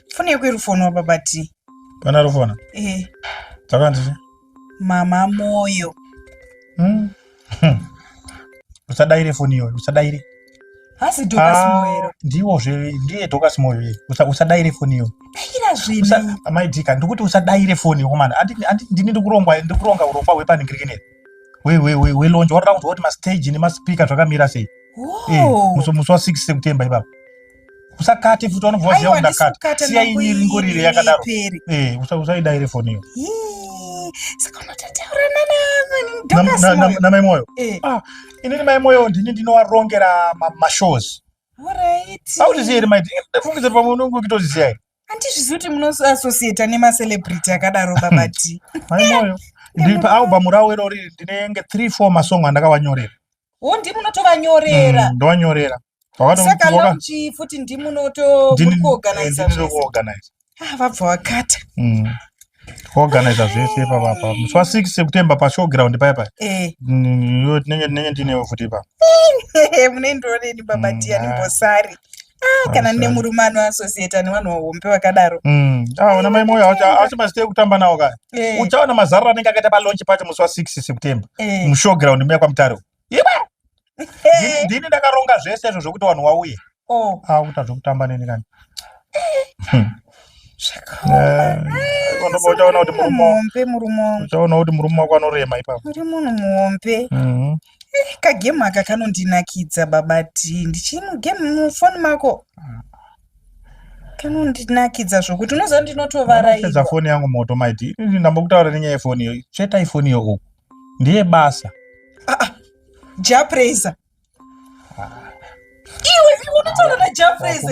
foni yako irifonwa baba t pana rufona eh. dzakandii mama moyo hmm. hmm. usadaire foni iyoyo usadaire hasi dokasimoero ah, ndiwo zve ndiye dokasimoyo ye usadaire foni iyoyo daira zvino amai dika ndikuti usadaire foni komana ndini ndikuronga urongwa hwepaningirikeneri welonje watoda kunzwa kuti mastage nemaspika zvakamira sei eh, musi wa 6 sekutemba ipapa usakate futi vanobva vaziva kuti ndakata siya ini ringorire yakadaro eh, usaidaire foni iyo namai moyo eh. ah, inini mai moyo ndini ndinovarongera mashows autiziyeri mai ndifungidze pamwe unonge ukitozisiya here handizvizivi kuti munoassociata nemacelebrity akadaro baba t maimoyo ndiri paalbum ravo irori ndinenge three four masong andakavanyorera wo ndi munotovanyorera mm, ndovanyorera saka lonchi futi ndi munotoorganiza ah, vabva wakata mm. kuorganiza zvese ipapapa musi wa six sekutemba pashowground paya paya eh. mm, tinenge ndinewe futi ipa munoendironeni baba tiya ndimbosari Ah, kana Awesome. ndine murume anoasosiyeta nevanhu vahombe vakadaro Mm. Ah, una mai moyo awacha- awasi mazita ekutamba nawo kaya Eh, uchaona mazarura anenge akaita palaunch pacho musi wa 6 september eh, mushowground muya kwamutare uko. Iba! eh. ndini ndakaronga zvese izvo zvekuti vanhu wauye Oh, akuta zvekutamba neni kani zvakaoma. Ondoba uchaona kuti murume wa- muhombe murume wangu uchaona kuti murume wako anorema ipapo muri munhu muhombe Mhm. Eh, kagemu aka kanondinakidza baba Dee. Ndichiri mugemu mufoni mako. Kanondinakidza zvokuti unoziva ndinotovara Pedza ivo. foni yangu moto maiti. Ini ndambokutaura nenyaya yefoni iyo. Tsvetai foni iyo uku. Ndiye basa. Japraiser. iwe unotaura najafres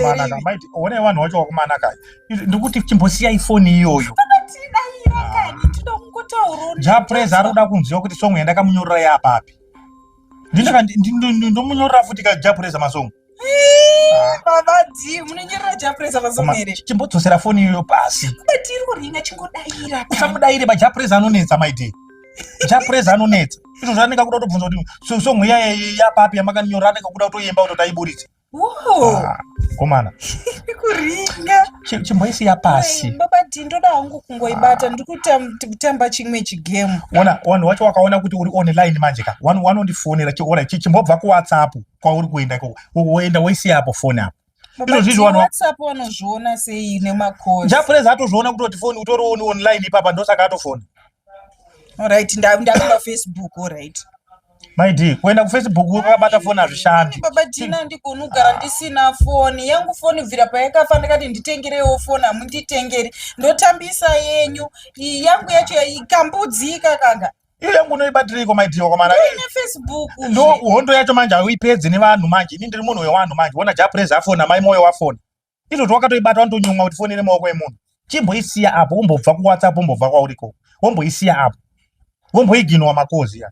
one vanhu wacho wakumana kani ndikuti chimbosiyai foni iyoyo japres ari kuda kunziva kuti songo yandakamunyorera yapapi ndomunyorera futi ka japres masongo vavadii munonyorera japres masongo here chimbodzosera foni iyoyo pasi usamudaire majapres anonetsa maidii chapreza anonetsa izvo zvanenge akuda kutobvunza kuti song iya yapapi yamakanyora anenge kuda kutoyemba kuti taiburitse ah, komana kuringa chimboisiya pasi babati ndoda hangu kungoibata ndiri kutamba chimwe chigame ona wanhu wacho wakaona kuti uri online manje ka wanondifonera chiora chimbobva kuwhatsapp kwauri kuenda woenda woisiya apo foni apo izvo zvizvo vanhu whatsapp vanozviona sei nemakosi njapurez atozviona kutoti foni utorioni online ipapa ndosaka atofona orit ndakuda facebook orit my d kuenda kufacebook wakabata foni hazvishandi baba dina handigoni kugara ndisina foni yangu foni bvira payakafa ndakati nditengerewo foni hamunditengeri ndotambisa yenyu yangu yacho ikambudzika kanga iyo yangu unoibatireiko maidhiwa kwamana ndo hondo yacho manje hauipedzi nevanhu manje ini ndiri munhu wewanhu manje wona japrez afona mai moyo wafona izvo zvawakatoibata wanotonyumwa kuti foni ine maoko emunhu chimboisiya apo wombobva kuwhatsapp wombobva kwauriko womboisiya apo womboiginwa makozi ya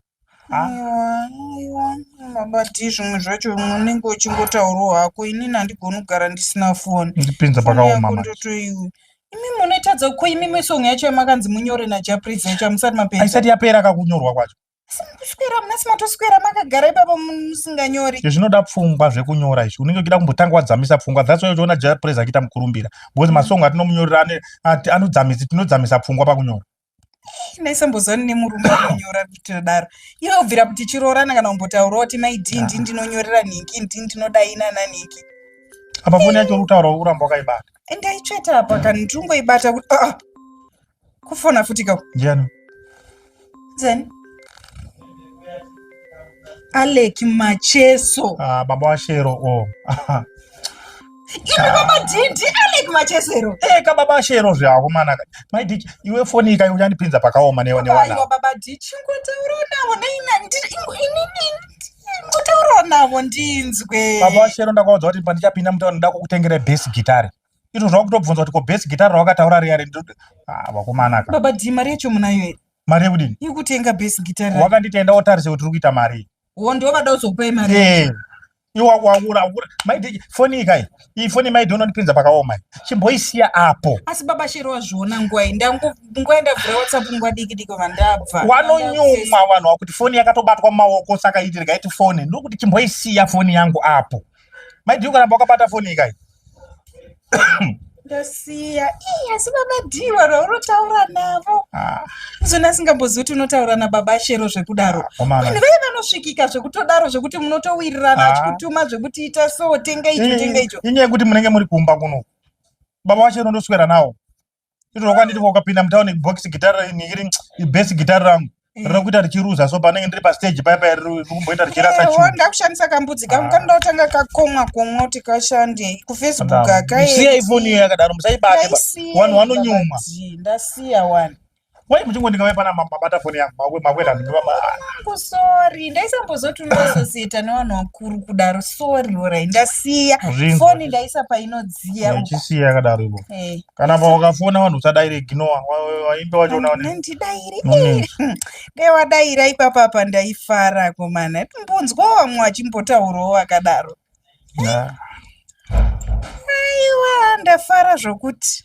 mabati zvimwe zvacho unenge uchingotaurawo hako inini handigoni kugara ndisina foni ndipinza pakaoma ndotoiwe imi munoitadza ko imimi song yacho yamakanzi munyore najaprizi yacho amusati mapedza aisati yapera kakunyorwa kwacho asi mukuswera muna simatoswera makagara ipapa musinganyori izvi zvinoda pfungwa zvekunyora izvi unenge uchida kumbotanga wadzamisa pfungwa that's why uchiona japrizi achiita mukurumbira because masong atinomunyorera ane- ati- anodzamisa tinodzamisa pfungwa pakunyora ndaisambozani nemurume anonyora kutodaro iwe ubvira kuti chiroorana kana kumbotaurawo kuti maidii ndii ndinonyorera nhinki ndii ndinodai nana nhinki apa foni yacho urikutaura uramba wakaibata ndaitsveta apa kana ndiringoibata kuti aa ah, ah. kufona futi ka ndiani then alek macheso ah, baba washero o oh. Imi baba Dindi Alec Machesero. Eh ka baba Shero zvako mana. My Dindi iwe foni ikayo unyanipinza pakaoma newe newana. Aiwa baba Dindi ngotaura nawo neina ndiri inini ngotaura nawo ndinzwe. Baba Shero ndakaudza kuti pandichapinda mutaura ndoda kukutengera bass guitar. Ito zvakutobvunza kuti ko bass guitar rawakataura riya rendo. Ah vakomana ka. Baba Dindi mari yacho munayo here? Mari yekudini? Yekutenga bass guitar. Wakanditenda wotarise kuti uri kuita mari. Wo ndovada uzokupa mari. Eh. iwa waura waura maidheji foni ikai iyi foni maidhi unondipinza pakaoma chimboisiya apo asi baba shero wazviona ngwai ndangoenda vhura whatsapp nguva diki diki vandabva wanonyumwa vanhu wakuti foni yakatobatwa mumaoko saka iti rikaiti foni ndokuti chimboisiya foni yangu apo maidhi ukaramba wakabata foni ikai ndasiya ii asi baba dii vanhu vaunotaura navo ah. izvona asingambozivi kuti unotaura nababa shero zvekudaro ah, vanhu vee vanosvikika zvekutodaro zvekuti munotowirirana ah. achikutuma zvekuti ita so tenga icho tenga icho inyaya yekuti munenge muri kumba kuno baba vashero ndoswera nawo izvozvo kwanditi ukapinda mutaune box gitara ini iri ibest gitara rangu eh. riri kuita richiruza so panenge ndiri pastage paya paya riri kumboita richirasa eh, chunda kushandisa kambudzi kangu ah. kanoda kutanga kakomwa komwa kuti kashande kufacebook akaemusiya ifoni iyo yakadaro musaibate vanhu vanonyumwa ndasiya wani wai muchingondikavai pana mabata foni yangu makwenda ndinovaangu sori ndaisambozoti unoasosieta nevanhu vakuru kudaro sori orai ndasiya foni ndaisa painodziya uchisiya yakadaro ivo eh. kana paukafona vanhu usadaire ignoa waimbe wachonandidaire dai wadaira ipapa apa ndaifara komana mbonzwawo vamwe vachimbotaurawo vakadaro aiwa ndafara zvokuti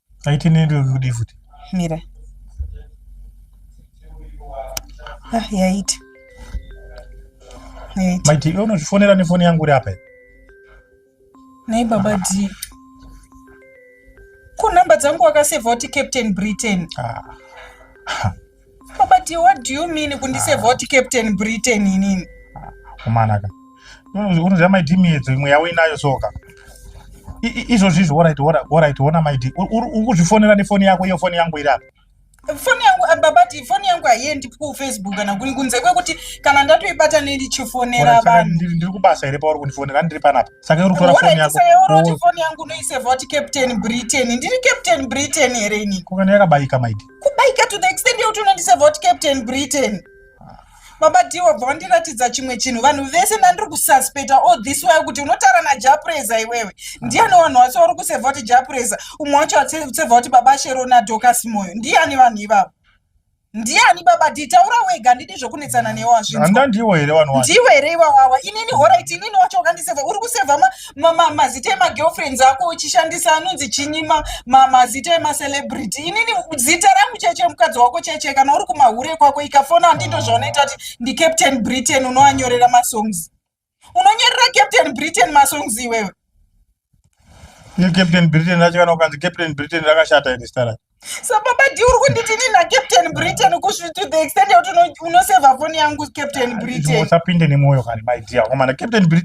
aite nendokudii futi mira ah, yaita maiti iwe unozvifonera nefoni yangu uri apa nai baba d ko nhamba dzangu wakasevha kuti captain britain ah. But what do you mean kundise vote Captain Britain inini? Kumanaka. Unoziva maidi miedzo imwe yawo inayo soka. Izvozvi izvo woraiti woraiti wona maidi. Ukuzvifonera nefoni yako iyo foni yangu iri apa. foni yangu ah, babati foni yangu haiendi kufacebook kana kuni kunze kwekuti kana ndatoibata nendichifonera vanhu ndiri kubasa here pauri kundifonera ndiri panapa saka uri kutora foni yako foni yangu unoiseva kuti captain britain ndiri captain britain here ini kokana yakabayika maidi kubaika to the extent yekuti unondiseva kuti captain britain baba dhi wabva wandiratidza chimwe chinhu vanhu vese ndandiri kususpecta all this way kuti unotaura najapreza iwewe ndiyani vanhu vase vari kuseva kuti japreza umwe wacho aseva kuti baba sherona dokas moyo ndiyani vanhu ivavo ndiyani baba dhi taura wega handidi zvekunetsana newe wazvinzwa ndiwe here vanhu ndiwe here iwawawa inini horit inini wacho wakandiseva uri kuseva mazita emagirlfriends ako uchishandisa anonzi chinyima mazita emacelebrity inini zita rangu cheche mukadzi wako cheche kana uri kumahure kwako ikafona handindo zvaunoita kuti ndicaptain britain unoanyorera masongs unonyorera captain britain masongs iwewe captain britain racho kana ukanzi captain britain rakashata iri zita racho so baba di uri kunditi ini nacaptain britain to the extent yekuti unoseva foni yangu captain britain usapinde nemwoyo kani maidia komana captain britain